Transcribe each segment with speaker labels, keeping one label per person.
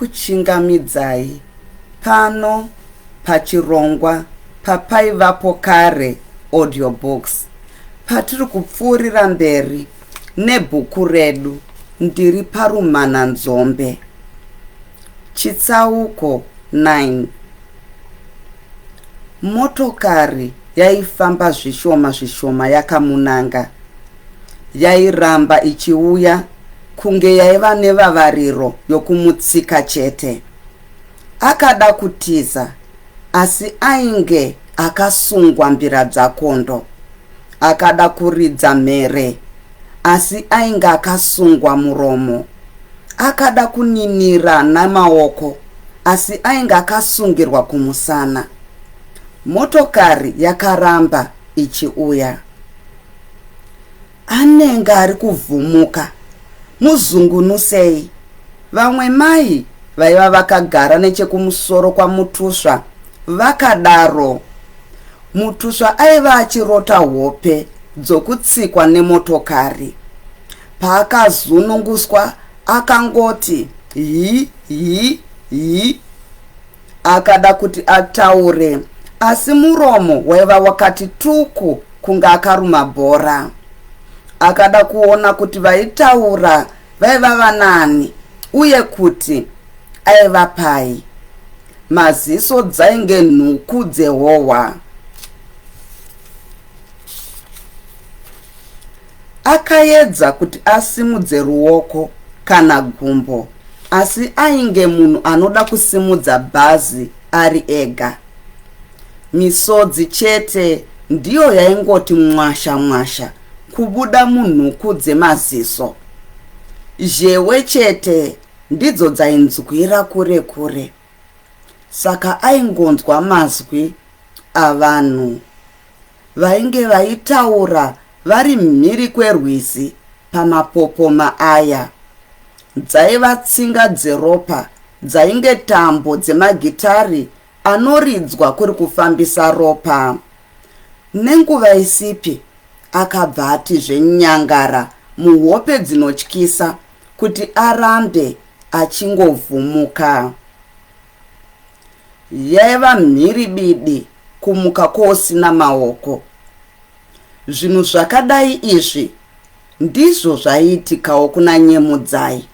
Speaker 1: ndinokuchingamidzai pano pachirongwa papaivapo kare audiobooks patiri kupfuurira mberi nebhuku redu ndiri parumhananzombe Chitsauko 9 Motokari yaifamba zvishoma zvishoma yakamunanga. Yairamba ichiuya kunge yaiva nevavariro yokumutsika chete. Akada kutiza asi ainge akasungwa mbira dzakondo. Akada kuridza mhere asi ainge akasungwa muromo. Akada kuninira nemaoko asi ainge akasungirwa kumusana. Motokari yakaramba ichiuya. Anenge ari kuvhumuka. Muzungunusei. Vamwe mai vaiva vakagara nechekumusoro kwaMutusva vakadaro. Mutusva aiva achirota hope dzokutsikwa nemotokari. Paakazununguswa akangoti hi hi hi akada kuti ataure asi muromo waiva wakati tuku kunge akaruma bhora. Akada kuona kuti vaitaura vaiva vanani uye kuti aiva pai. Maziso dzainge nhuku dzehohwa. Akaedza kuti asimudze ruoko kana gumbo asi ainge munhu anoda kusimudza bhazi ari ega. Misodzi chete ndiyo yaingoti mwasha mwasha kubuda munhuku dzemaziso. Zhewe chete ndidzo dzainzwira kure kure. Saka aingonzwa mazwi avanhu. Vainge vaitaura vari mhiri kwerwizi pamapopoma aya. Dzaiva tsinga dzeropa dzainge tambo dzemagitari anoridzwa kuri kufambisa ropa. Nenguva isipi akabva ati zvenyangara muhope dzinotyisa kuti arambe achingovhumuka. Yaiva mhiribidi kumuka kousina maoko. Zvinhu zvakadai izvi ndizvo zvaiitikawo kuna Nyemudzai,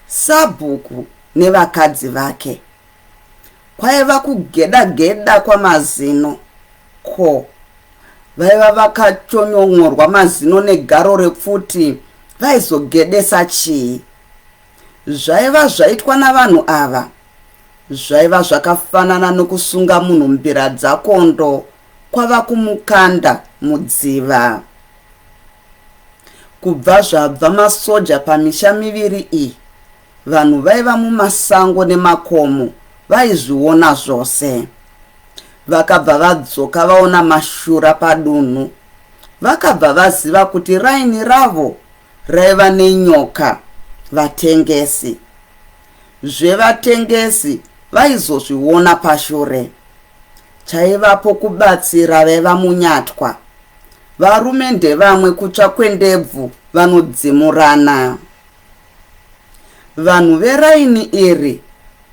Speaker 1: sabhuku nevakadzi vake. Kwaiva kugeda geda kwamazino ko vaiva vakachonyon'orwa mazino negaro repfuti vaizogedesa chii? Zvaiva zvaitwa navanhu ava zvaiva zvakafanana nokusunga munhu mbira dzakondo kwava kumukanda mudziva. Kubva zvabva masoja pamisha miviri iyi, vanhu vaiva mumasango nemakomo vaizviona zvose. Vakabva vadzoka vaona mashura padunhu. Vakabva vaziva kuti raini ravo Raiva nenyoka vatengesi. Zvevatengesi vaizozviona pashure. Chaivapo kubatsira vaiva munyatwa. Varume ndevamwe kutsva kwendebvu vanodzimurana. Vanhu veraini iri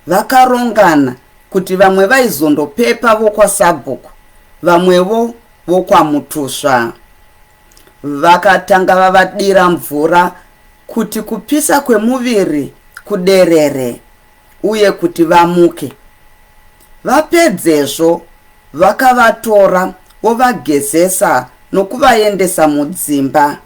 Speaker 1: vakarongana kuti vamwe vaizondopepa vokwasabhuku vamwevo vokwamutusva. Vakatanga vavadira mvura kuti kupisa kwemuviri kuderere uye kuti vamuke. Vapedzezvo vakavatora vovagezesa nokuvaendesa mudzimba.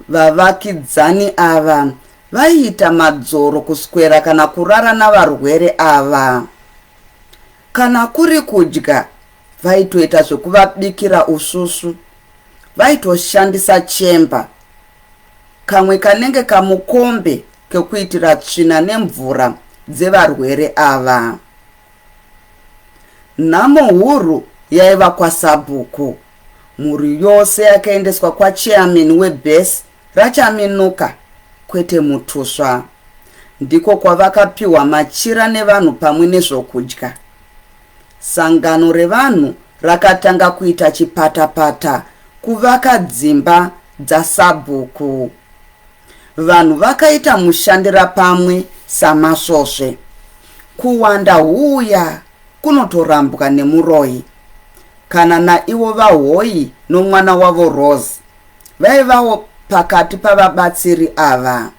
Speaker 1: Vavakidzani ava vaiita madzoro kuswera kana kurara navarwere ava. Kana kuri kudya, Vaitoita zvekuvabikira usvusvu. Vaitoshandisa chemba, kamwe kanenge kamukombe kekuitira tsvina nemvura dzevarwere ava. Nhamo huru yaiva kwaSabhuku. Mhuri yose yakaendeswa kwaCheamini webhesi raChaminuka, kwete Mutusva. Ndiko kwavakapiwa machira nevanhu pamwe nezvokudya. sangano revanhu rakatanga kuita chipatapata kuvaka dzimba dzaSabhuku. Vanhu vakaita mushandirapamwe samasvosve. Kuwanda huuya kunotorambwa nemuroyi. Kana naivo vaHoyi nomwana wavo Rose vaivawo pakati pavabatsiri ava.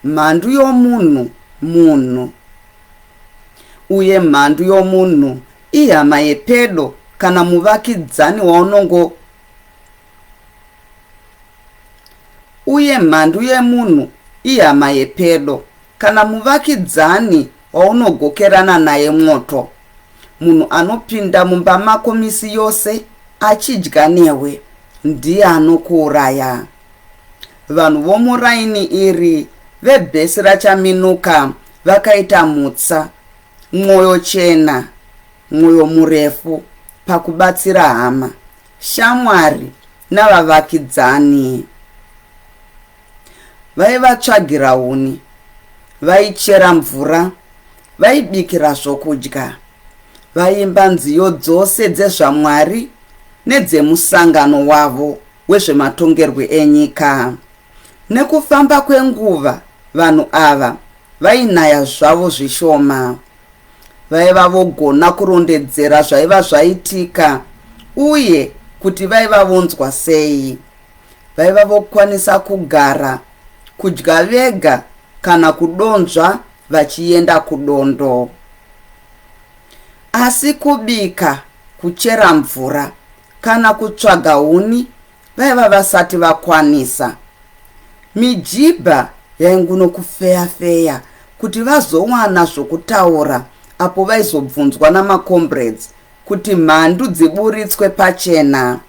Speaker 1: Mhandu yomunhu munhu, uye mhandu yomunhu ihama yepedo kana muvakidzani waunongo uye mhandu yemunhu ihama yepedo kana muvakidzani waunogokerana naye mwoto munhu anopinda mumba mako misi yose achidya newe ndiye anokuuraya Vanhu vomuraini iri vebhesi raChaminuka vakaita mutsa, mwoyo chena, mwoyo murefu pakubatsira hama, shamwari navavakidzani. Vaivatsvagira huni, vaichera mvura, vaibikira zvokudya. Vaimba nziyo dzose dzezvaMwari nedzemusangano wavo wezvematongerwe enyika. Nekufamba kwenguva, vanhu ava vainaya zvavo zvishoma. Vaiva vogona kurondedzera zvaiva zvaitika uye kuti vaiva vonzwa sei. Vaiva vokwanisa kugara, kudya vega kana kudonzva vachienda kudondo. Asi kubika, kuchera mvura kana kutsvaga huni vaiva vasati vakwanisa. Mijibha yainguno kufeya-feya kuti vazowana zvokutaura apo vaizobvunzwa namaCombrades kuti mhandu dziburitswe pachena.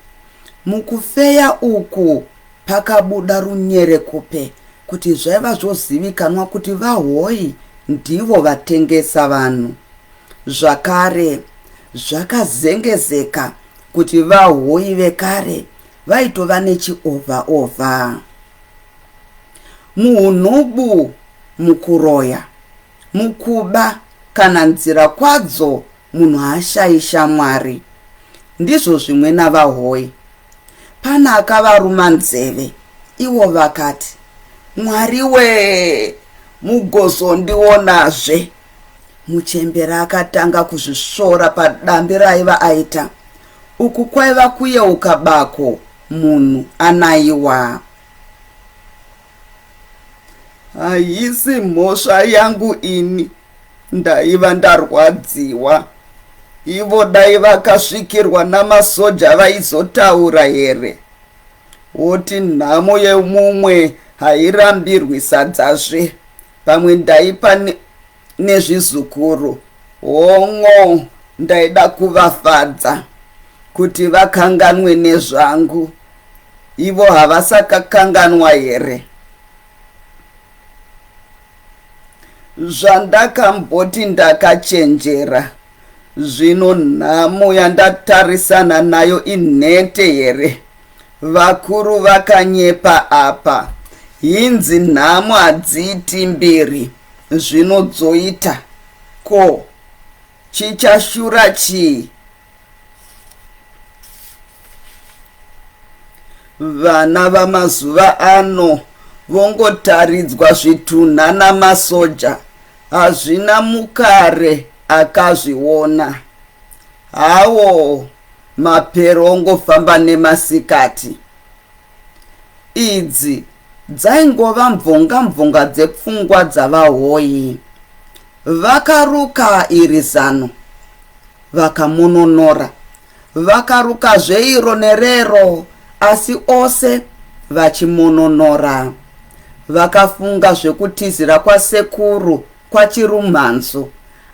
Speaker 1: Mukufeya uku Pakabuda runyerekupe kuti zvaiva zvozivikanwa kuti VaHoyi ndivo vatengesa vanhu. Zvakare, zvakazengezeka kuti VaHoyi vekare vaitova nechiovha ovha. Muhunhubu, mukuroya, mukuba kana nzira kwadzo Munhu haashayi shamwari ndizvo zvimwe navahoyi pana akavaruma nzeve iwo vakati mwari wee mugozondionazve muchembera akatanga kuzvisvora padambi raiva aita uku kwaiva kuyeuka bako munhu anaiwa haisi mhosva yangu ini Ndaiva ndarwadziwa. Ivo dai vakasvikirwa namasoja vaizotaura here? Woti nhamo yemumwe hairambirwi sadzazve. Pamwe ndaipa nezvizukuru. Hon'o ndaida kuvafadza kuti vakanganwe nezvangu. Ivo havasakakanganwa here? Zvandakamboti ndakachenjera zvino nhamo yandatarisana nayo inhete here? Vakuru vakanyepa apa. Hinzi nhamo hadziiti mbiri zvino dzoita. Ko chichashura chii? vana vamazuva ano vongotaridzwa zvitunha namasoja hazvina mukare akazviona hawo mapero ongofamba nemasikati idzi dzaingova mvonga mvonga dzepfungwa dzavahoyi vakaruka iri zano vakamununura. Vakarukazve iro nerero, asi ose vachimununura. Vakafunga zvekutizira kwasekuru kwaChirumhanzu,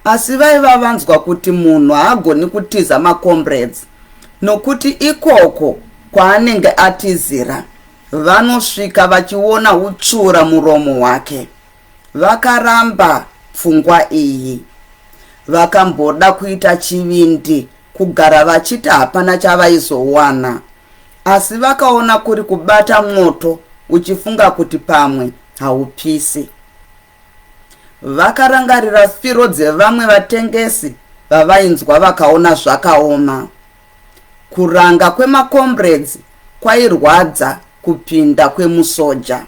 Speaker 1: asi vaiva vanzwa kuti munhu haagoni kutiza maComrades nokuti ikoko kwaanenge atizira vanosvika vachiona utsvura muromo wake. Vakaramba pfungwa iyi. Vakamboda kuita chivindi kugara vachiti hapana chavaizowana asi vakaona kuri kubata mwoto uchifunga kuti pamwe haupisi. Vakarangarira firo dzevamwe vatengesi vavainzwa vakaona zvakaoma. Kuranga kwemacomrades kwairwadza kupinda kwemusoja.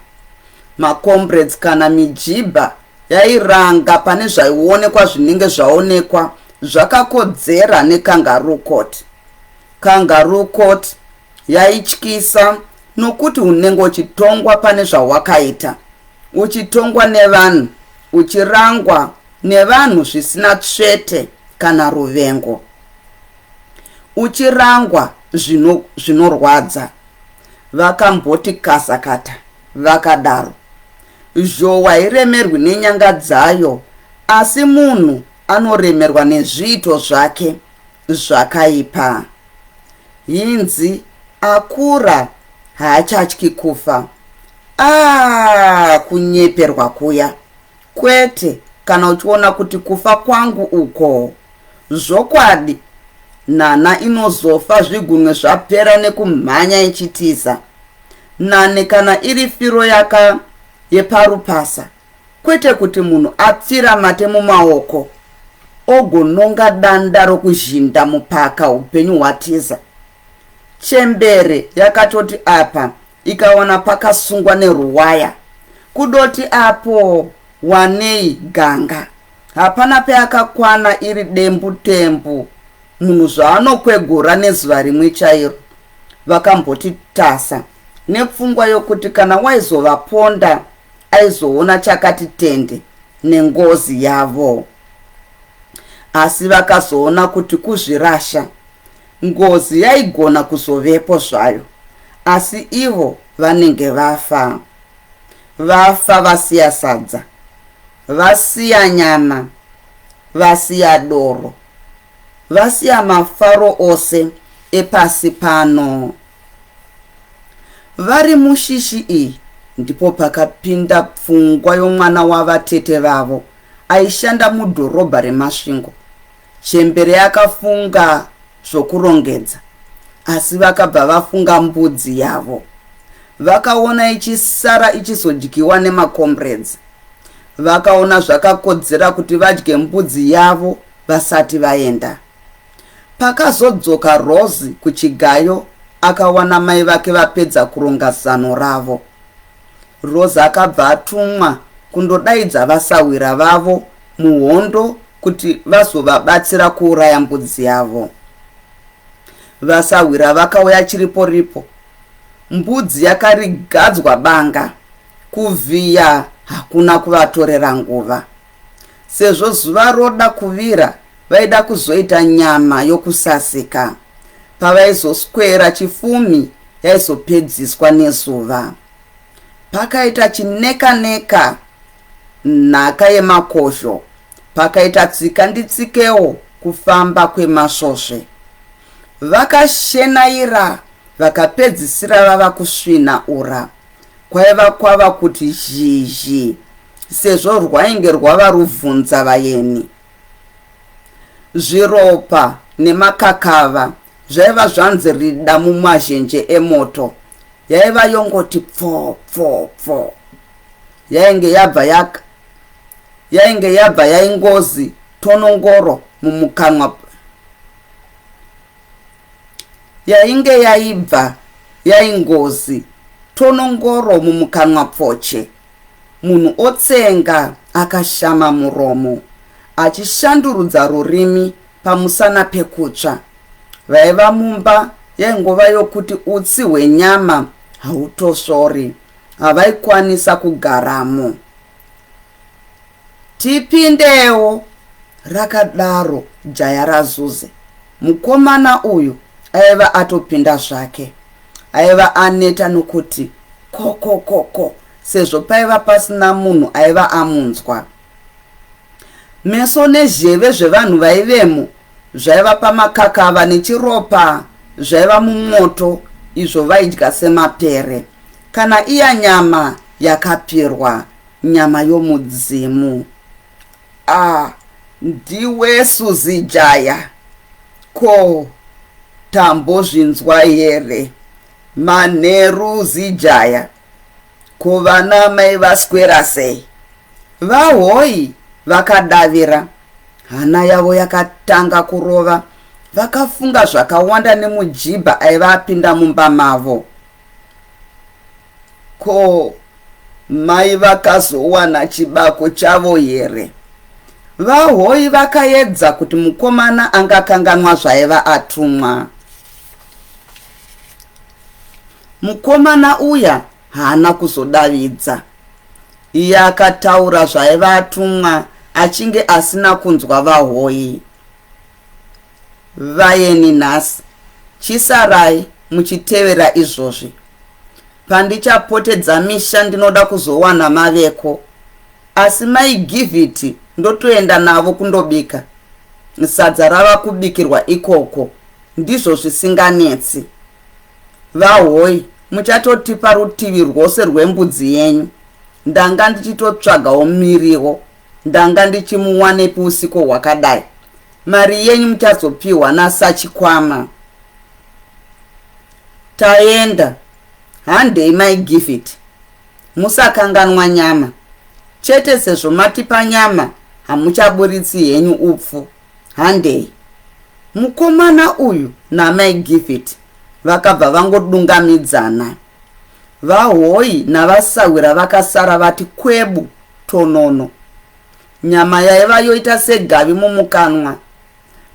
Speaker 1: Macomrades kana mijibha yairanga pane zvaionekwa zvinenge zvaonekwa zvakakodzera nekangaroo court. Kangaroo court yaityisa nokuti unenge uchitongwa pane zvawakaita, uchitongwa nevanhu, uchirangwa nevanhu zvisina tsvete kana ruvengo. uchirangwa zvino zvinorwadza vakamboti kasakata vakadaro zhowa iremerwi nenyanga dzayo asi munhu anoremerwa nezviito zvake zvakaipa hinzi akura haachatyi kufa aa kunyeperwa kuya kwete kana uchiona kuti kufa kwangu uko Zvokwadi nhanha inozofa zvigunwe zvapera nekumhanya ichitiza. Nane kana iri firo yaka yeparupasa kwete kuti munhu apfira mate mumaoko ogononga danda rokuzhinda mupaka upenyu hwatiza. Chembere yakatoti apa ikawana pakasungwa neruwaya kudoti apo wanei ganga. Hapana peakakwana iri dembu tembu munhu zvaanokwegura nezuva rimwe chairo vakamboti tasa nepfungwa yokuti kana waizovaponda aizoona chakati tende nengozi yavo asi vakazoona kuti kuzvirasha ngozi yaigona kuzovepo zvayo asi ivo vanenge vafa vafa vasiya sadza Vasiya nyama, vasiya doro, vasiya mafaro ose epasi pano. Vari mushishi iyi ndipo pakapinda pfungwa yomwana wavatete vavo aishanda mudhorobha reMasvingo. Chembere yakafunga zvokurongedza asi vakabva vafunga mbudzi yavo. Vakaona ichisara ichizodyiwa nemacomrades. Vakaona zvakakodzera kuti vadye mbudzi yavo vasati vaenda. Pakazodzoka Rose kuchigayo akawana mai vake vapedza kuronga zano ravo. Rosa akabva atumwa kundodaidza vasahwira vavo muhondo kuti vazovabatsira kuuraya mbudzi yavo. Vasahwira vakauya chiripo ripo. Mbudzi yakarigadzwa banga. Kuvhiya hakuna kuvatorera nguva. Sezvo zuva roda kuvira, Vaida kuzoita nyama yokusasika. Pavaizoswera chifumi yaizopedziswa nezuva. Pakaita chinekaneka nhaka yemakosho, pakaita tsika nditsikewo kufamba kwemasvosve. Vakashenaira vakapedzisira vava kusvina ura. Kwaiva kwava kuti zhizhi sezvo rwainge rwava ruvhunza vayeni. Zviropa nemakakava zvaiva zvanzi rida mumazhenje emoto. Yaiva yongoti pfoo pfoo pfoo. Yainge yabva yaka yainge yabva yaingozi tonongoro mumukanwa yainge yaibva yaingozi tonongoro mumukanwa pfoche Munhu otsenga akashama muromo achishandurudza rurimi pamusana pekutsva. Vaiva mumba yaingova yokuti utsi hwenyama hautosvori. Havaikwanisa kugaramo. Tipindewo, rakadaro jaya raZuze. Mukomana uyu aiva atopinda zvake. Aiva aneta nokuti kokokoko sezvo paiva pasina munhu aiva amunzwa. Meso nezheve zvevanhu vaivemo zvaiva pamakakava nechiropa zvaiva mumwoto izvo vaidya semapere kana iya nyama yakapirwa Nyama yomudzimu. Ah ndiwe Suzy Jaya ko tambozvinzwa here manheru Zijaya ko vana mai vaswera sei vahoyi vakadavira hana yavo yakatanga kurova vakafunga zvakawanda nemujibha aiva apinda mumba mavo Ko mai vakazowana chibako chavo here? VaHoyi vakaedza kuti mukomana angakanganwa zvaiva atumwa. Mukomana uya haana kuzodavidza. Iye akataura zvaiva atumwa achinge asina kunzwa VaHoyi. Vayeni nhasi, chisarai muchitevera izvozvi. Pandichapotedza misha ndinoda kuzowana maveko. Asi mai Giviti ndotoenda navo kundobika. Sadza rava kubikirwa ikoko, ndizvo zvisinganetsi. Vahoi, muchatotipa rutivi rwose rwembudzi yenyu. Ndanga ndichitotsvagawo miriwo. Ndanga ndichimuwanepi usiko hwakadai. Mari yenyu muchazopihwa nasachikwama. Taenda. Handei mai Givit. Musakanganwa nyama. Chete sezvo matipa nyama hamuchaburitsi henyu upfu. Handei. Mukomana uyu namai Givit vakabva vangodungamidzana. Vahoyi navasahwira vakasara vati kwebu tonono, nyama yaiva yoita segavi mumukanwa,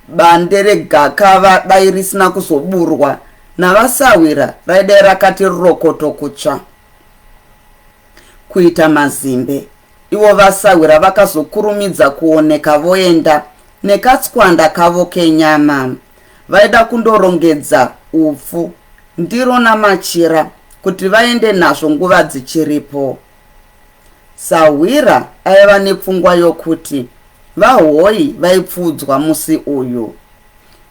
Speaker 1: bande regakava dai risina kuzoburwa navasahwira raidai rakati rokoto kutsva kuita mazimbe. Ivo vasahwira vakazokurumidza kuoneka voenda nekatswanda kavo kenyama. Vaida kundorongedza upfu, ndiro namachira kuti vaende nazvo nguva dzichiripo. Sahwira aiva nepfungwa yokuti VaHoyi vaipfuudzwa musi uyu.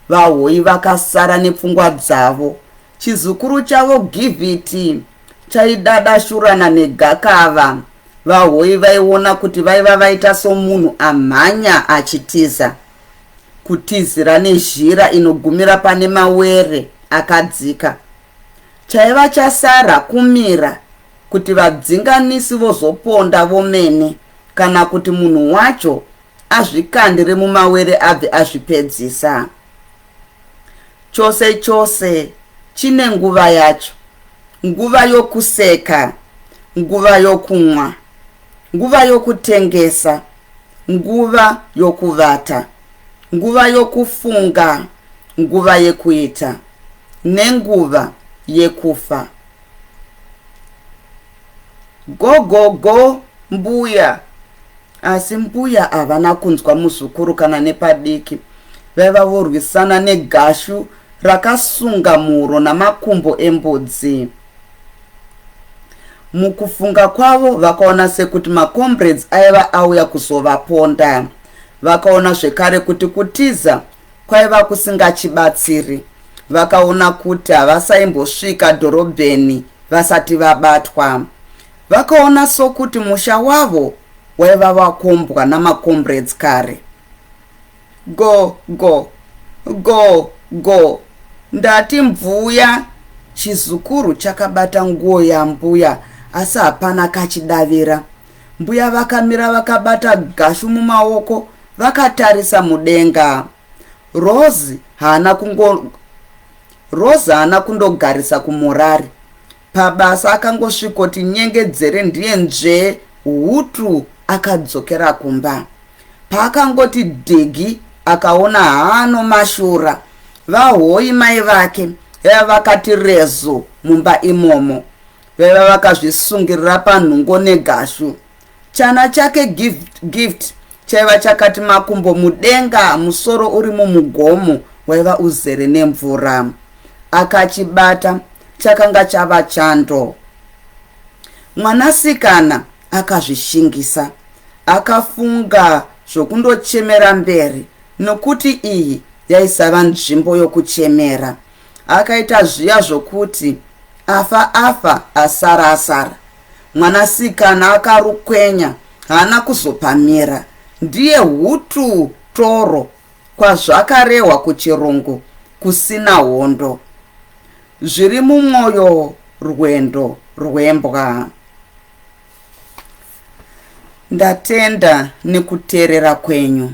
Speaker 1: VaHoyi vakasara nepfungwa dzavo. Chizukuru chavo Giviti chaidadashurana negakava. VaHoyi vaiona kuti vaiva vaita somunhu amhanya achitiza. Kutizira nezhira inogumira pane mawere akadzika. Chaiva chasara kumira kuti vadzinganisi vozoponda vomene kana kuti munhu wacho azvikandire mumawere abve azvipedzisa. Chose chose chine nguva yacho, nguva yokuseka, nguva yokumwa, nguva yokutengesa, nguva yokuvata, nguva yokufunga, nguva yekuita, nenguva yekufa. Gogogo mbuya asi mbuya havana kunzwa muzukuru kana nepadiki vaiva vorwisana negashu rakasunga mhuro namakumbo embudzi mukufunga kwavo vakaona sekuti macombrades aiva auya kuzovaponda vakaona zvekare kuti kutiza kwaiva kusingachibatsiri. Vakaona kuti havasaimbosvika dhorobheni vasati vabatwa. Vakaona sokuti musha wavo waiva wakombwa namakombreds kare. Go, go, go, go, ndati mvuya. Chizukuru chakabata nguo yambuya asi hapana kachidavira. Mbuya vakamira vakabata Gashu mumaoko vakatarisa mudenga. Rose haana kungo Rose haana kundogarisa kumorari. Pabasa akangosvikoti nyengedzere ndiye nzvee hutu akadzokera kumba. Paakangoti dhigi akaona haano mashura. Vahoyi mai vake vakati rezu mumba imomo. Vaiva vakazvisungirira panhungo negashu. Chana chake Gift, gift chaiva chakati makumbo mudenga musoro uri mumugomo waiva uzere nemvura. Akachibata chakanga chava chando. Mwanasikana akazvishingisa. Akafunga zvokundochemera mberi nokuti iyi yaisava nzvimbo yokuchemera. akaita zviya zvokuti afa afa asara asara mwanasikana akarukwenya haana kuzopamira ndiye hutu toro kwazvakarehwa kuchirungu kusina hondo zviri mumwoyo rwendo rwembwa ndatenda nekuteerera kwenyu